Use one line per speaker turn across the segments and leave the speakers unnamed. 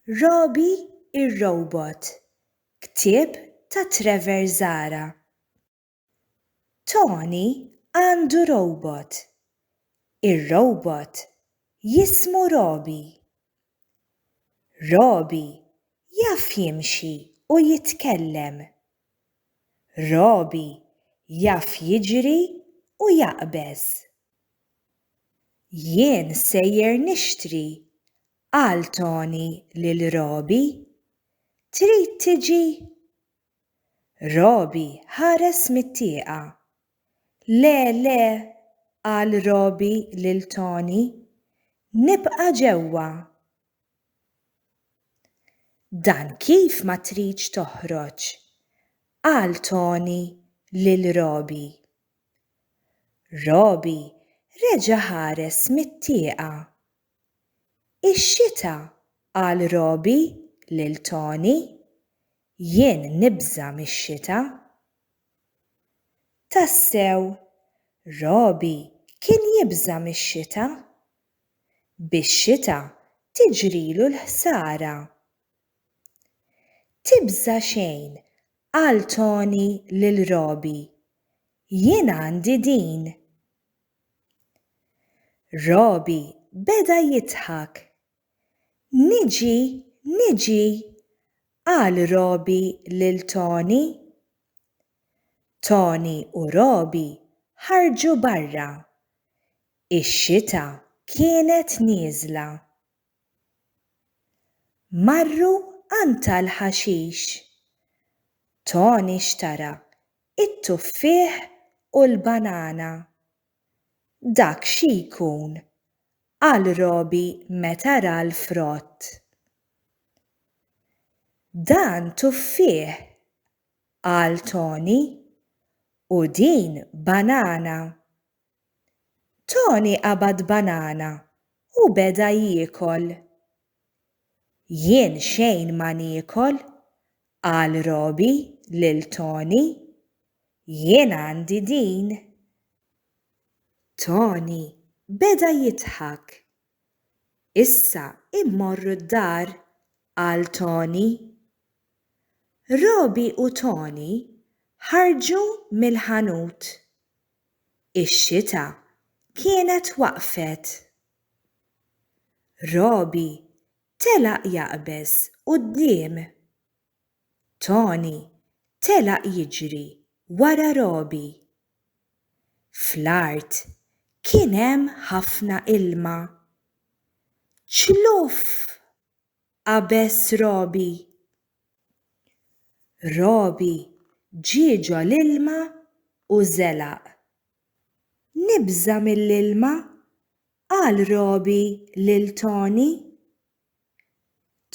Robbie ir-Robot, ktieb ta' Trevor Zahra. Tony għandu robot. Ir-robot jismu Robbie. Robbie jaf jimxi u jitkellem. Robbie jaf jiġri u jaqbeż. Jien sejjer nixtri Qal Toni lil Robi, Trid tiġi? Robi ħares mit-tieqa. Le, le, qal Robi lil Toni, nibqa' ġewwa. Dan kif ma tridx toħroġ? qal Toni lil Robi. Robi reġa' ħares mit-tieqa Ix-xita, qal Roby lil Tony. Jien nibża' mix-xita. Tassew, Roby kien jibża' mix-xita. Bix-xita tiġrilu l-ħsara. Tibża' xejn, qal Tony lil Roby. Jien għandi din. Robi beda jidħak. Niġi, niġi, qal Robi lil Toni. Toni u Robi ħarġu barra. Ix-xita kienet nieżla. Marru għand tal-ħaxix. Toni xtara It-tuffieħ u l-banana. Dak xi jkun, qal Robi meta ra l-frott. Dan tuffieħ, qal Toni, u din banana. Toni qabad banana u beda jiekol. Jien xejn ma niekol, qal Robi lil Toni. Jien għandi din. Toni beda jidħak. Issa immorru d-dar, qal Toni. Robi u Toni ħarġu mill-ħanut. Ix-xita kienet waqfet. Roby telaq jaqbeż quddiem. Tony telaq jiġri wara Roby. Fl-art kien hemm ħafna ilma. Ċluff! qabeż Robi. Robi ġie ġol-ilma u żelaq. Nibża' mill-ilma, qal Robi lil Toni.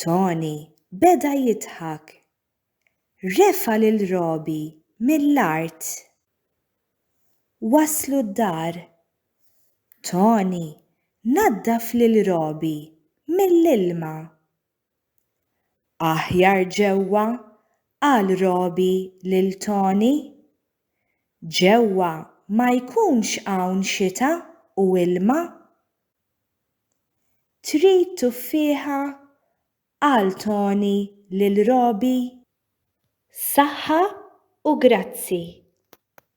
Toni beda jidħak. Refa' lil Robi mill-art. Waslu d-dar. Toni naddaf lil Robi mill-ilma. Aħjar ġewwa, qal Robi lil Toni. Ġewwa ma jkunx hawn xita u ilma. Trid tuffieħa Qal Toni lil Robbie. Saħħa u grazzi.